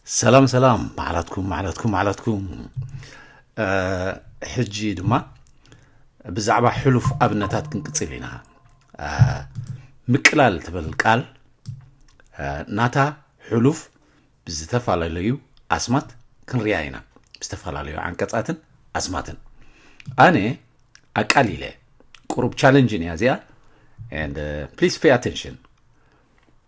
ሰላም ሰላም ማዕላትኩም ማዕላትኩም ማዕላትኩም ሕጂ ድማ ብዛዕባ ሕሉፍ ኣብነታት ክንቅፅል ኢና ምቅላል ትብል ቃል ናታ ሕሉፍ ብዝተፈላለዩ ኣስማት ክንርያ ኢና ብዝተፈላለዩ ዓንቀፃትን ኣስማትን ኣነ ኣቃሊለ ቁሩብ ቻለንጅን እያ እዚኣ ፕሊስ ፔ ኣቴንሽን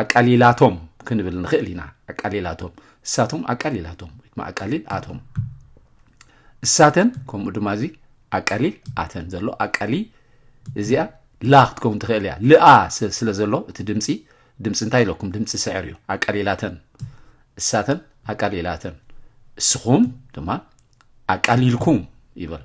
ኣቃሊላቶም ክንብል ንኽእል ኢና። ኣቃሊላቶም፣ እሳቶም ኣቃሊላቶም ወይ ድማ ኣቃሊል ኣቶም፣ እሳተን ከምኡ ድማ እዚ ኣቃሊል ኣተን ዘሎ ኣቃሊ እዚኣ ላ ክትከውን ትኽእል እያ ልኣ ስለ ዘሎ እቲ ድምፂ ድምፂ እንታይ ኢለኩም ድምፂ ስዕር እዩ ኣቃሊላተን እሳተን ኣቃሊላተን እስኹም ድማ ኣቃሊልኩም ይበል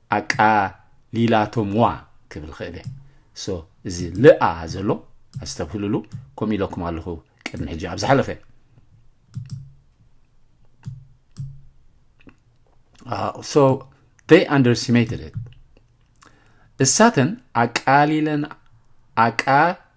ኣቃሊላቶምዋ ክብል ክእል እየ so እዚ ልኣ ዘሎ ኣስተብህልሉ ከምኡ ኢለኩም ኣለኹ ቅድሚ ሕጂ ኣብ ዝሓለፈ so they underestimated it እሳተን ኣቃሊለን ኣቃ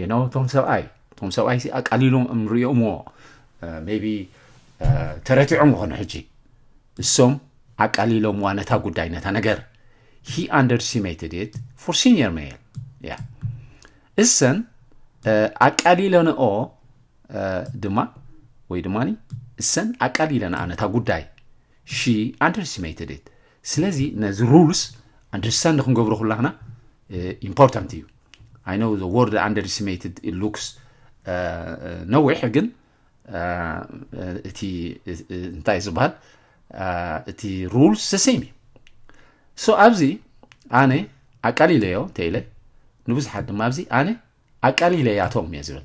you know ቶም ሰብኣይ ቶም ሰብኣይ ሲ ኣቃሊሎም እምሪኦምዎ ሜቢ ተረቲዖም ይኾኑ ሕጂ እሶም ኣቃሊሎምዋ ነታ ጉዳይ ነታ ነገር ሂ ኣንደርሲሜትድ ኢት ፎር ሲኒየር ሜል ያ እሰን ኣቃሊለንኦ ድማ ወይ ድማ እሰን ኣቃሊለንኣ ነታ ጉዳይ ሺ ኣንደርሲሜትድ ኢት ስለዚ ነዚ ሩልስ ኣንደርስታንድ ክንገብሮ ኩላክና ኢምፖርታንት እዩ ኣይ ኖው ዘ ወርድ ኣንደርሲሜትድ ኢት ሉክስ ነዊሕ ግን እቲ እንታይ ዝበሃል እቲ ሩልስ ሰሴም እዩ ሶ ኣብዚ ኣነ ኣቃሊለዮ እንተኢለ ንብዙሓት ድማ ኣብዚ ኣነ ኣቃሊለያቶም እየ ዝብል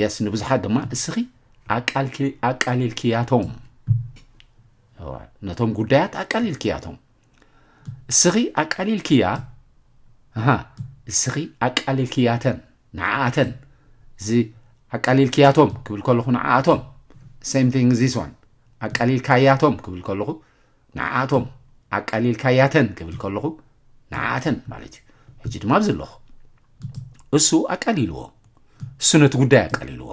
የስ ንብዙሓት ድማ እስኺ ኣቃሊልክያቶም ነቶም ጉዳያት ኣቃሊልክያቶም እስኺ ኣቃሊልክያ እስኺ ኣቃሊልክያተን ንዓኣተን እዚ ኣቃሊልክያቶም ክብል ከለኹ ንዓኣቶም ሴም ቲንግ ዚስ ዋን ኣቃሊልካያቶም ክብል ከለኹ ንዓኣቶም ኣቃሊልካያተን ክብል ከለኹ ንዓኣተን ማለት እዩ ሕጂ ድማ ኣብዚ ኣለኹ እሱ ኣቃሊልዎ እሱ ነቲ ጉዳይ ኣቃሊልዎ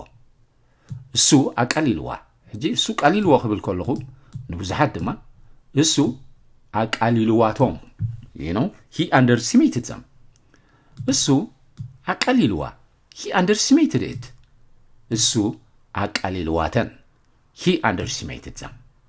እሱ ኣቃሊልዋ ሕጂ እሱ ቃሊልዎ ክብል ከለኹ ንብዙሓት ድማ እሱ ኣቃሊልዋቶም ነው ሂ ኣንደር ሲሜትድ ዘም እሱ ኣቃሊልዋ ሂ ኣንደር ሲሜትድ እት እሱ ኣቃሊልዋተን ሂ ኣንደር ሲሜትድ ዘም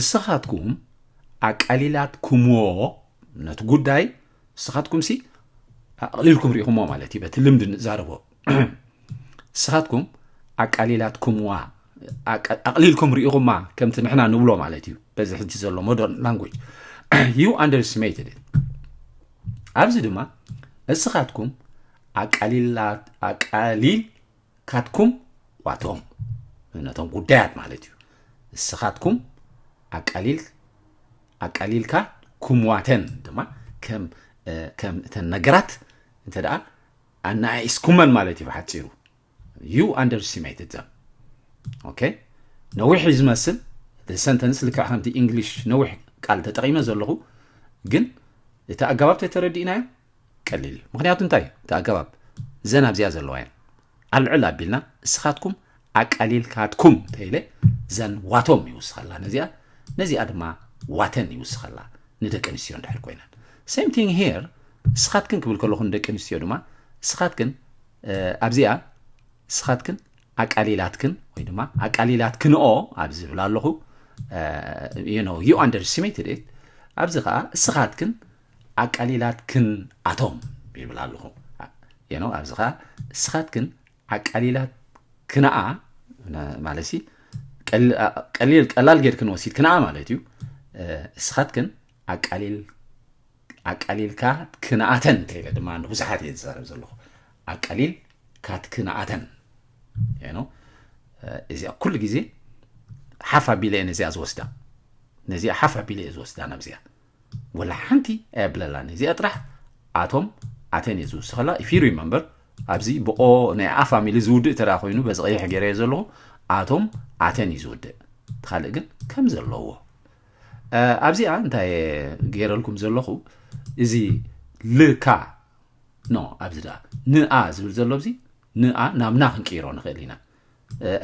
እስኻትኩም ኣቃሊላትኩምዎ ነቲ ጉዳይ እስኻትኩም ሲ ኣቕሊልኩም ሪኢኹምዎ ማለት እዩ በቲ ልምዲ ንዛረቦ እስኻትኩም ኣቃሊላትኩምዋ ኣቕሊልኩም ሪኢኹማ ከምቲ ንሕና ንብሎ ማለት እዩ በዚ ሕጂ ዘሎ ሞደርን ላንጉጅ ዩ ኣንደርስቲሜትድ ኣብዚ ድማ እስኻትኩም ኣቃሊል ካትኩም ዋቶም ነቶም ጉዳያት ማለት እዩ እስኻትኩም ኣቃሊል ኣቃሊልካ ኩምዋተን ድማ ከም ከም እተን ነገራት እንተ ደኣ ኣነኣኢስኩመን ማለት እዩ ብሓፂሩ ዩ ኣንደርስቲሜትድ ዘም ኦኬ ነዊሕ እዩ ዝመስል ሰንተንስ ልክዕ ከምቲ እንግሊሽ ነዊሕ ቃል ተጠቂመ ዘለኹ ግን እቲ ኣገባብ ተተረዲእናዮ ቀሊል እዩ ምክንያቱ እንታይ እዩ እቲ ኣገባብ ዘን ኣብዚኣ ዘለዋ እየን ኣልዕል ኣቢልና እስኻትኩም ኣቃሊልካትኩም ተይለ ዘን ዋቶም ይውስኸላ ነዚኣ ነዚኣ ድማ ዋተን ይውስኸላ ንደቂ ኣንስትዮ እንድሕር ኮይነን ሴም ቲንግ ሄር እስኻትክን ክብል ከለኹ ንደቂ ኣንስትዮ ድማ እስኻትክን ኣብዚኣ እስኻትክን ኣቃሊላትክን ወይ ድማ ኣቃሊላትክንኦ ኣብ ዝብል ኣለኹ ዩ ኣንደርስቲሜትድ ኣብዚ ከዓ እስኻትክን ዓቃሊላትክን ኣቶም ይብላ ኣለኹ የኖ ኣብዚ ከኣ እስኻትክን ዓቃሊላት ክነኣ ማለት ሲ ቀሊል ቀላል ጌርክን ወሲድ ክነኣ ማለት እዩ እስኻትክን ዓቃሊል ኣቃሊልካ ክነኣተን እንተኢለ ድማ ንብዙሓት እየ ዝዛረብ ዘለኹ ኣቃሊል ካትክነኣተን ኖ እዚኣ ኩሉ ግዜ ሓፍ ኣቢለ እየ ነዚኣ ዝወስዳ ነዚኣ ሓፍ ኣቢለ እየ ዝወስዳ ናብዚኣ ወላ ሓንቲ ኣየብለላን እዚኣ ጥራሕ ኣቶም ኣተን እየ ዝውስኸላ ኢፊሩ እዩ መንበር ኣብዚ ብቆ ናይ ኣ ፋሚሊ ዝውድእ ተደኣ ኮይኑ በዚ ቀይሕ ገይረዮ ዘለኹ ኣቶም ኣተን እዩ ዝውድእ እቲ ካልእ ግን ከም ዘለዎ ኣብዚኣ እንታይ ገይረልኩም ዘለኹ እዚ ልካ ኖ ኣብዚ ደኣ ንኣ ዝብል ዘሎ እዚ ንኣ ናብ ና ክንቅይሮ ንኽእል ኢና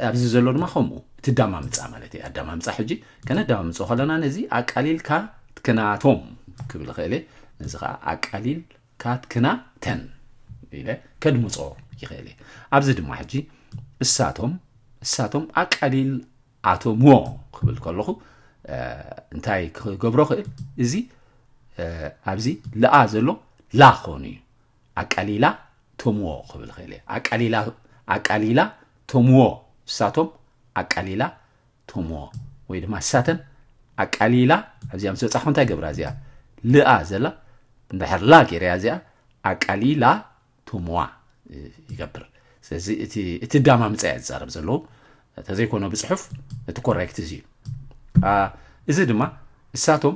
ኣብዚ ዘሎ ድማ ከምኡ እቲ ዳማምፃ ማለት እዩ ኣዳማምፃ ሕጂ ከነዳማምፆ ከለና ነዚ ኣቃሊልካ ትክናቶም ክብል ይኽእል እየ ነዚ ከዓ ኣቃሊልካ ትክና ተን ኢለ ከድምፆ ይኽእል እየ ኣብዚ ድማ ሕጂ እሳቶም እሳቶም ኣቃሊል ኣቶምዎ ክብል ከለኹ እንታይ ክገብሮ ክእል እዚ ኣብዚ ለኣ ዘሎ ላ ክኾኑ እዩ ኣቃሊላ ቶምዎ ክብል ኽእል እየ ኣቃሊላ ኣቃሊላ ቶምዎ ንሳቶም ኣቃሊላ ቶምዎ ወይ ድማ ንሳተን ኣቃሊላ ኣብዚኣ ምስ በፃሕኩ እንታይ ገብራ እዚኣ ልኣ ዘላ እንድሕር ላ ገይረያ እዚኣ ኣቃሊላ ቶምዋ ይገብር ስለዚ እቲ እቲ ዳማምፀ እያ ዝዛረብ ዘለዎ ተዘይኮነ ብፅሑፍ እቲ ኮሬክት እዚ እዩ እዚ ድማ ንሳቶም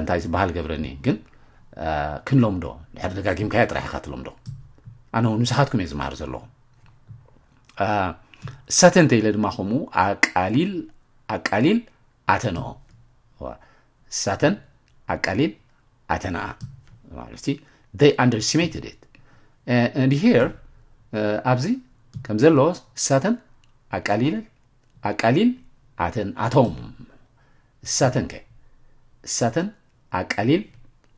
እንታይ ዝበሃል ገብረኒ ግን ክንለምዶ ድሕር ደጋጊምካዮ ጥራሕ ኢኻ ትለምዶ ኣነ እውን ንስኻትኩም እየ ዝመሃር ዘለኹ እሳተ እንተኢለ ድማ ከምኡ ኣቃሊል ኣቃሊል ኣተንኦ እሳተን ኣቃሊል ኣተንኣ ማለት they underestimated it and here ኣብዚ ከም ዘሎ እሳተን ኣቃሊል ኣቃሊል ኣተን ኣቶም እሳተን ከ እሳተን ኣቃሊል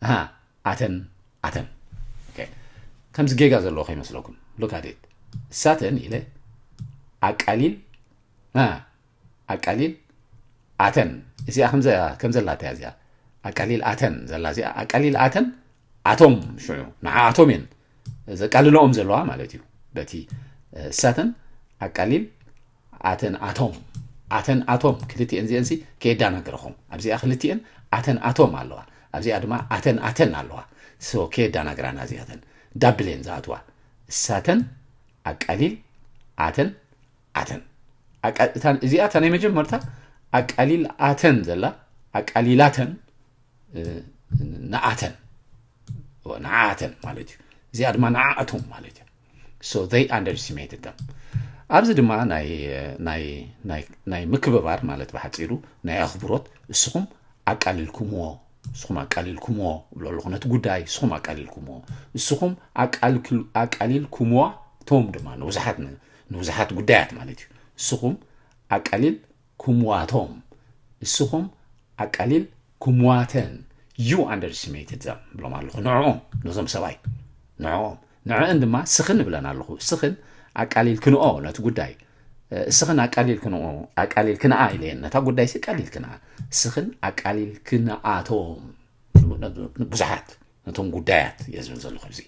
ኣሃ ኣተን ኣተን ኦኬ ከምዚ ጌጋ ዘለዎ ከይመስለኩም ሉክ ኣት ኢት እሳተን ኢለ ኣቃሊል ኣ ኣቃሊል ኣተን እዚኣ ከምዛ ከም ዘላታ እያ እዚኣ ኣቃሊል ኣተን ዘላ እዚኣ ኣቃሊል ኣተን ኣቶም ሽዑ ንዓኣቶም እየን ዘቃልለኦም ዘለዋ ማለት እዩ በቲ እሳተን ኣቃሊል ኣተን ኣቶም ኣተን ኣቶም ክልቲኤን ዚኤንሲ ከየዳናግረኹም ኣብዚኣ ክልቲኤን ኣተን ኣቶም ኣለዋ ኣብዚኣ ድማ ኣተን ኣተን ኣለዋ ሶ ከየዳናግራና እዚኣተን ዳብሌን ዝኣትዋ እሳተን ኣቃሊል ኣተን ኣተን ኣቃ እዚኣ እታ ናይ መጀመርታ ኣቃሊል ኣተን ዘላ ኣቃሊላተን ንኣተን ንዓኣተን ማለት እዩ እዚኣ ድማ ንዓኣቶም ማለት እዩ ኣብዚ ድማ ናይ ምክብባር ማለት ብሓፂሩ ናይ ኣኽብሮት እስኹም ኣቃልልኩምዎ እስኹም ኣቃልልኩምዎ ብሎ ኣለኹ ነቲ ጉዳይ እስኹም ኣቃልልኩምዎ እስኹም ኣቃልልኩምዋ ቶም ድማ ንብዙሓት ንብዙሓት ጉዳያት ማለት እዩ እስኹም ኣቃሊል ኩምዋቶም እስኹም ኣቃሊል ኩምዋተን ዩ ኣንደርስሜትድ ዘም ብሎም ኣለኹ ንዕኦም ነዞም ሰባይ ንዕኦም ንዐእን ድማ ስኽን እብለን ኣለኹ። ስኽን ኣቃሊልክንኦ ነቲ ጉዳይ። ስኽን ኣቃሊልክንኦ፣ ኣቃሊልክንኣ ኢለየን። ነታ ጉዳይሲ ኣቃሊልክንኣ። ስኽን ኣቃሊልክንኣቶም ንብዙሓት ነቶም ጉዳያት እየ ዝብል ዘለኹ ኣብዚ።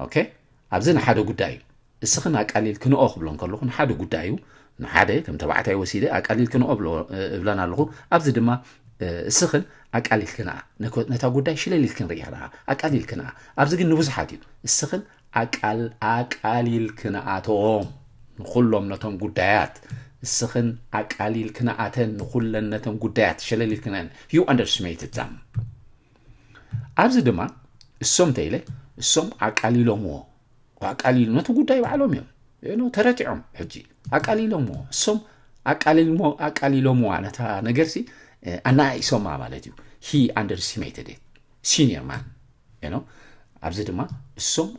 ኦኬ ኣብዚ ንሓደ ጉዳይ እዩ። እስኽን ኣቃሊልክንኦ ክብለን ከለኹ ንሓደ ጉዳይ እዩ። ንሓደ ከም ተባዕታይ ወሲደ ኣቃሊልክንኦ እብለን ኣለኹ። ኣብዚ ድማ እስኽን ኣቃሊልክንኣ ነታ ጉዳይ ሽለል ኢልክን ርኢኽንኣ ኣቃሊልክንኣ። ኣብዚ ግን ንብዙሓት እዩ እስኽን ኣቃሊልክንኣቶም ንኹሎም ነቶም ጉዳያት እስኽን ኣቃሊልክንኣተን ንኹለን ነተን ጉዳያት ሸለል ኢልክንአን ዩ ኣንደርስሜትድ ዛም ኣብዚ ድማ እሶም ተኢለ እሶም ኣቃሊሎምዎ ኣቃሊሉ ነቲ ጉዳይ ባዕሎም እዮም ኖ ተረቲዖም ሕጂ ኣቃሊሎምዎ እሶም ኣቃሊሎምዋ ነታ ነገርሲ ኣናኣኢሶማ ማለት እዩ ሂ ኣንደርስቲሜትድ ሲኒየር ማን ኖ ኣብዚ ድማ እሶም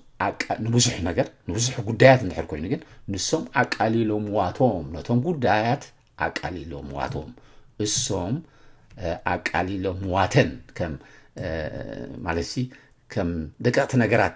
ንብዙሕ ነገር ንብዙሕ ጉዳያት እንድሕር ኮይኑ ግን ንሶም ኣቃሊሎምዋቶም ነቶም ጉዳያት ኣቃሊሎምዋቶም እሶም ኣቃሊሎምዋተን ከም ማለት ከም ደቀቕቲ ነገራት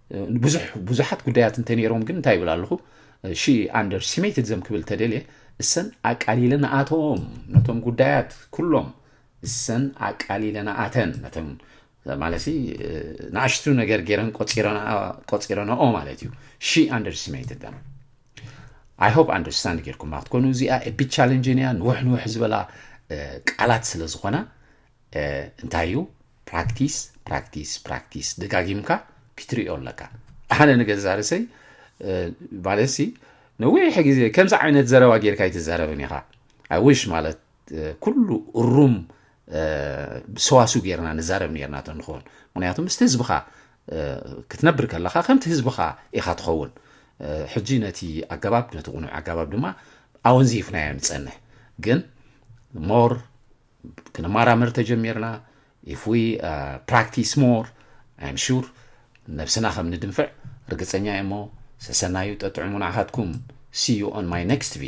ንብዙሕ ብዙሓት ጉዳያት እንተነይሮም ግን እንታይ ይብል ኣለኹ ሺ ኣንደር ሲሜትድ ዘም ክብል ተደልየ እሰን ኣቃሊለን ኣቶም ነቶም ጉዳያት ኩሎም እሰን ኣቃሊለን ኣተን ነቶም ማለት ንኣሽቱ ነገር ገይረን ቆፂረናኦ ማለት እዩ ሺ ኣንደርስቲሜትድ ደም ኣይ ሆፕ ኣንደርስታንድ ጌርኩማ ክትኮኑ እዚኣ ቢ ቻለንጅን እያ ንውሕ ንውሕ ዝበላ ቃላት ስለ ዝኾና እንታይ እዩ ፕራክቲስ ፕራክቲስ ፕራክቲስ ደጋጊምካ ክትሪኦ ኣለካ ኣነ ንገዛ ርእሰይ ማለትሲ ነዊሕ ግዜ ከምዚ ዓይነት ዘረባ ጌርካ ኣይትዛረብን ኢኻ ኣይውሽ ማለት ኩሉ እሩም ሰዋሱ ጌርና ንዛረብ ነርና ቶ ንኸውን ምክንያቱ ምስቲ ህዝብኻ ክትነብር ከለካ ከምቲ ህዝብኻ ኢኻ ትኸውን ሕጂ ነቲ ኣገባብ ነቲ ቁኑዕ ኣገባብ ድማ ኣወንዚፍናዮ ንፀንሕ ግን ሞር ክንማራመር ተጀሚርና ኢፍ ዊ ፕራክቲስ ሞር ኣይም ሹር ነብስና ከም ንድንፍዕ ርግፀኛ እየ እሞ ሰሰናዩ ጠጥዕሙ ንዓኻትኩም ሲዩ ኦን ማይ ኔክስት